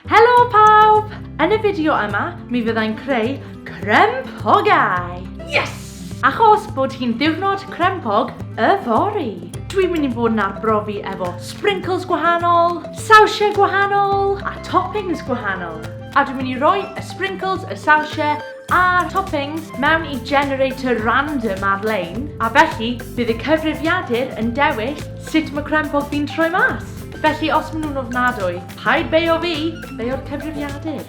Helo pawb! Yn y fideo yma, mi fyddai'n creu crempogau! Yes! Achos bod hi'n ddiwrnod crempog y fori. Dwi'n mynd i fod yn arbrofi efo sprinkles gwahanol, sawsiau gwahanol a toppings gwahanol. A dwi'n mynd i roi y sprinkles, y sawsiau a'r toppings mewn i generator random ar-lein a felly bydd y cyfrifiadur yn dewis sut mae crempog fi'n troi mas. Felly os maen nhw'n ofnadwy, Paid beio fi, beio'r cyfrifiadur.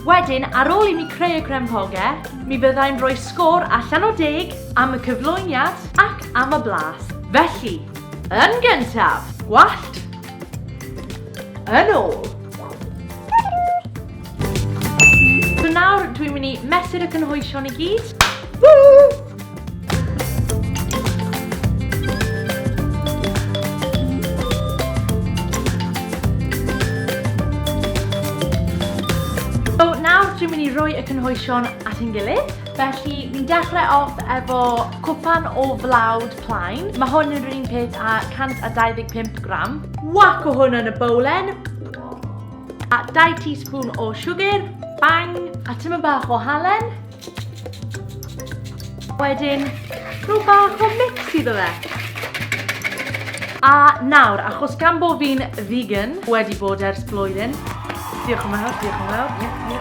Wedyn, ar ôl i mi creu y crempogau, mi fyddai'n rhoi sgôr allan o deg am y cyflwyniad ac am y blas. Felly, yn gyntaf, gwallt, yn ôl. So nawr, dwi'n mynd i mesur y cynhwysion i gyd. Woo! nawr dwi'n mynd i roi y cynhoesion at ein gilydd. Felly, ni'n dechrau off efo cwpan o flawd plaen. Mae hwn yn rhywun peth a 125 gram. Wac o hwn yn y bowlen. A 2 teaspoon o siwgr. Bang! A tyma bach o halen. Wedyn, rhyw bach o mix iddo fe. A nawr, achos gan bod fi'n vegan, wedi bod ers blwyddyn, diolch yn fawr, diolch yn fawr, ie, ie,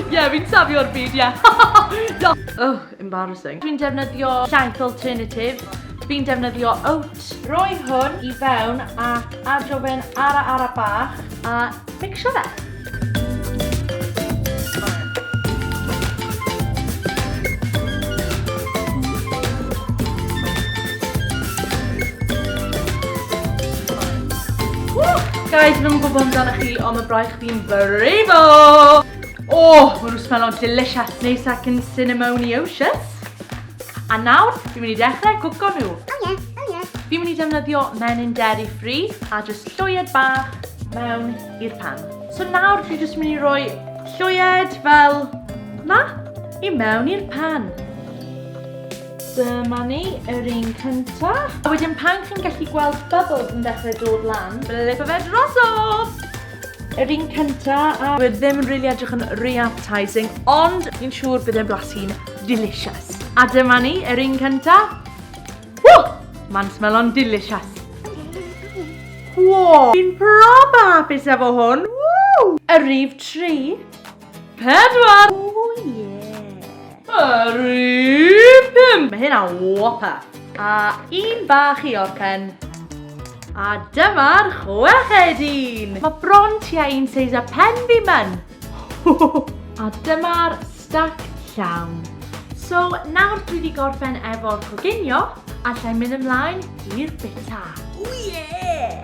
ie, ie, fi'n safio'r byd, ie. oh, embarrassing. Dwi'n defnyddio llaeth alternative, fi'n defnyddio oat, Reit, rhoi hwn i fewn ac adro fe'n ara ara bach a mixio fe. Guys, fi ddim yn gwybod amdano chi, ond mae braich fi'n brifo! O, oh, mae nhw'n smello'n delicious, neis ac yn cinnamoniocious. A nawr, fi'n mynd i dechrau cwco nhw. Oh yeah, oh yeah. Fi'n mynd i defnyddio menyn dairy free a jyst llwyed bach mewn i'r pan. So nawr, fi'n jyst mynd i roi llwyed fel ma i mewn i'r pan. Dyma ni, yr un cynta. A wedyn pan chi'n gallu gweld bubbles yn dechrau dod lan, blip o fe drosodd! Yr un cynta a... Dwi ddim yn rili edrych yn ry appetising, ond fi'n siŵr bydd e'n blasu'n delicious. A dyma ni, yr un cynta. Ww! Mae'n smelo'n delicious. Wow! Fi'n prob hapus efo hwn. Ww! Y rif tri. Pedwar! O ie! Harry pum! Mae hynna whopper! A un bach i orpen. A dyma'r chweched un! Mae bron tua un seis a pen fi myn! A dyma'r stack llawn. So, nawr dwi wedi gorffen efo'r coginio, alla i mynd ymlaen i'r bita. O ie!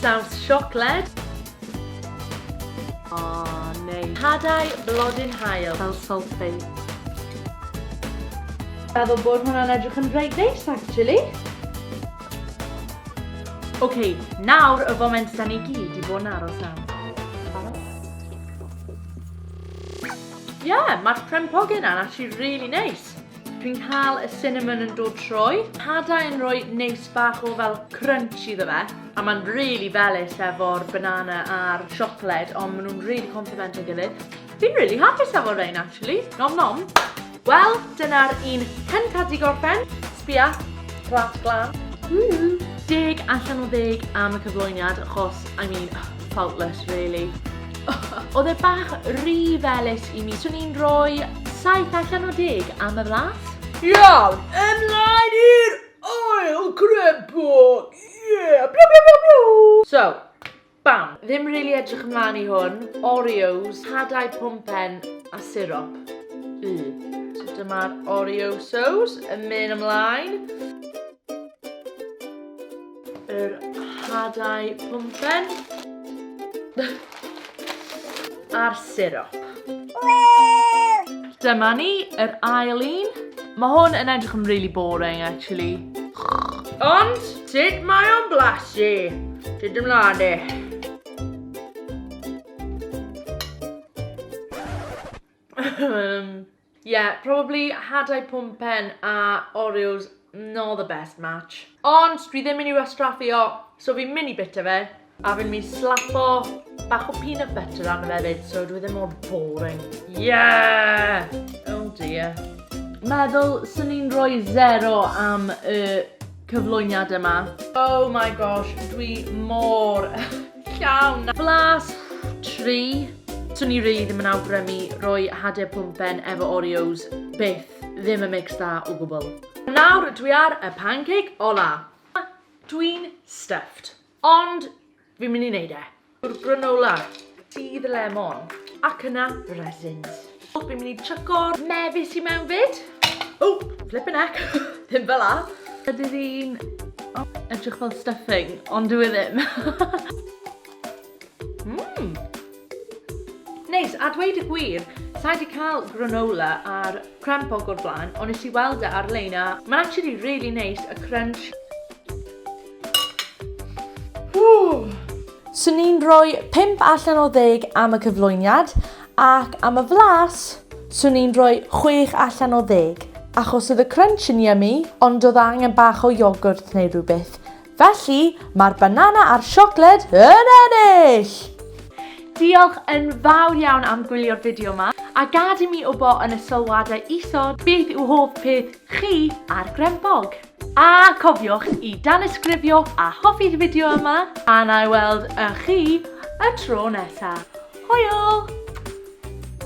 Saws siocled. O, neis. Hadau blodyn haul. Fel salty. Meddwl bod hwnna'n edrych yn reit neis, actually. Ok, nawr y foment da ni gyd i bod yn aros am. Ie, yeah, mae'r crempogyn yna'n actually really neis. Dwi'n cael y cinnamon yn dod trwy. Hadau yn rhoi neis bach o fel crunch iddo fe. A mae'n really felus efo'r banana a'r siocled, ond maen nhw'n really complemento gilydd. Fi'n really hapus efo rhain, actually. Nom nom. Wel, dyna'r un hyn cael di gorffen. Sbia, plat glan. Woo! Deg allan o ddeg am y cyflwyniad, achos, I mean, Faultless really. Oedd e bach rhy felys i mi, swn i'n rhoi 7 allan o 10 am y flas. Iawn, ymlaen i'r ail crempog! Yeah! Bla bla bla bla! So, bam, ddim rili really edrych ymlaen i hwn. Oreos, hadau pumpen a sirop. Y. So dyma'r Oreosos yn mynd ymlaen. Yr hadau pwmpen. A'r sirop. Dyma ni, yr ail un. Mae hwn yn edrych yn really boring, actually. Ond, sut mae o'n blasu? Sut ymlaen e? um, Ie, probably hadau pwmpen a Oreos not the best match. Ond dwi ddim yn i'w astraffu o, so fi'n mini bita fe, a fi'n mynd slapo bach o peanut butter arno fe fyd, so dwi ddim mor boring. Yeah! Oh dear. Meddwl sy'n ni'n rhoi zero am y cyflwyniad yma. Oh my gosh, dwi mor Llawn na. Blas! Tri. Swn i rili ddim yn awgrymu roi hade pwmpen efo Oreos, byth, ddim yn mix da o gwbl. Nawr dwi ar y pancake ola. Dwi'n stuffed. Ond fi'n mynd i neud e. Yw'r granola, dydd lemon, ac yna resins. Fi'n mynd i chucko'r mefus i mewn fyd. O, flippin' heck, ddim fel la. Ydy ddi'n oh, edrych fel stuffing, ond dwi e ddim. Mmm. Neis, a dweud y gwir, Sa'i wedi cael granola ar crem bog o'r blaen, ond nes i weld e ar-lein a mae'n actually really neis, y crunch. Swn i'n rhoi 5 allan o 10 am y cyflwyniad ac am y flas, swn i'n rhoi 6 allan o 10 achos oedd y crunch yn yummy ond oedd angen bach o iogwrt neu rhywbeth. Felly, mae'r banana a'r siocled yn ennill! Diolch yn fawr iawn am gwylio'r fideo yma, a gad i mi wybod yn y sylwadau isod beth yw hoff peth chi a'r Grempog. A cofiwch i danysgrifio a hoffi'r fideo yma, a na i weld ych chi y tro nesa. Hwyl!